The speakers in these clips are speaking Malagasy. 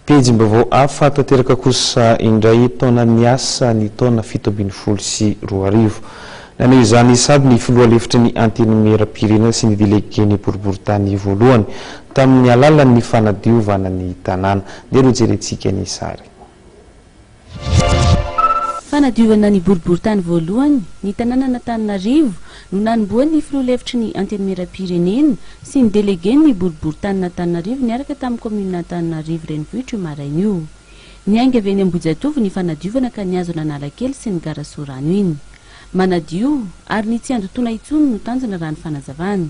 Pejim-baovao hafa tanteraka kosa indray taonan'ny asa ny taona fito ambin'ny folo sy roa arivo. Naneho izany sahady ny filoha lefitry ny Antenimieram-pirenena sy ny delegen'ny boriborintany voalohany tamin'ny alalan'ny fanadiovana ny tanàna. Ndeha rojerentsika ny sary. Fanadiovana ny boriborintany voalohany, ny tanànan'Antananarivo no nanombohan'ny filoha lefitry ny Antenimierampirenena sy ny delegen'ny boriborintanin'Antananarivo niaraka tamin'ny kaominin'Antananarivo renivohitra io maraina io. Niainga avy eny Ambohijatovo ny fanadiovana ka nihazo an'Analakely sy ny gara Sorano iny. Manadio, ary ny tsy handotoana intsony no tanjona raha ny fanazavana.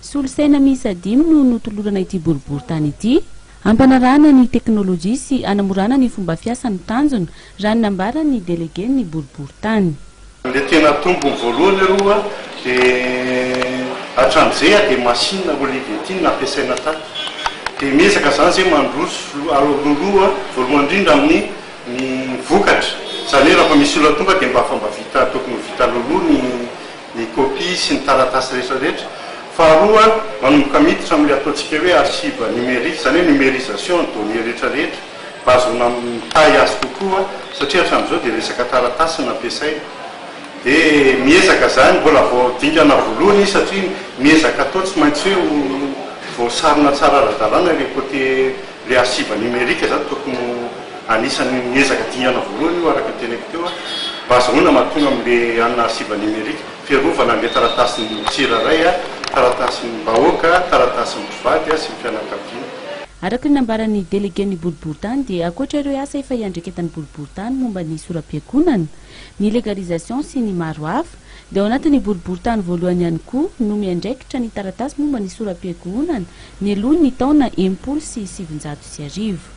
Solosaina miisa dimy no notolorana ity boriboritany ity, hampanarahana ny teknolojia sy hanamorana ny fomba fiasa no tanjona, raha ny nambaran'ny delegen'ny boriboritany. Ilay tena tompony voalohany aloha dia hatramin'izay dia masinina Olivetti no nampiasaina tato. Dia miezaka izany izay mandroso alohaloha voalohany indrindra amin'ny ny vokatra. Izany hoe raha efa misy olona tonga dia mba fa mba vita tokony ho vita alohaloha ny ny kopia sy ny taratasy rehetra rehetra. Faharoa, manomboka miditra amin'ilay ataontsika hoe archive numérique, izany hoe numérisation ny données rehetra rehetra, mba hahazoana mitahy azy kokoa, satria hatramin'izao dia resaka taratasy no ampiasaina. Dia miezaka izany, mbola vao dingana voloina izy, satria miezaka atao tsy maintsy hoe ho voasarona tsara ara-dalàna ilay côté Ilay archive numérique izany tokony ho anisan'ny ezaka dingana voalohany io araka ny teneniko teo mba azahoana mahatonga amin'ilay hanina archive numérique fiarovana an'ilay taratasin'ny tsirairay, taratasin'ny vahoaka, taratasin'ny mpivady sy ny fianakaviana. Araka ny nambaran'ny Delegen'ny boriborintany dia ankoatra ireo asa efa iandraiketan'ny boriborintany momba ny sora-piangonana, ny legalisation sy ny maro hafa, dia ao anatin'ny boriborintany voalohany ihany koa no miandraikitra ny taratasy momba ny soram-piankohonana, ny aloha ny taona enimpolo sy sivinjato sy arivo.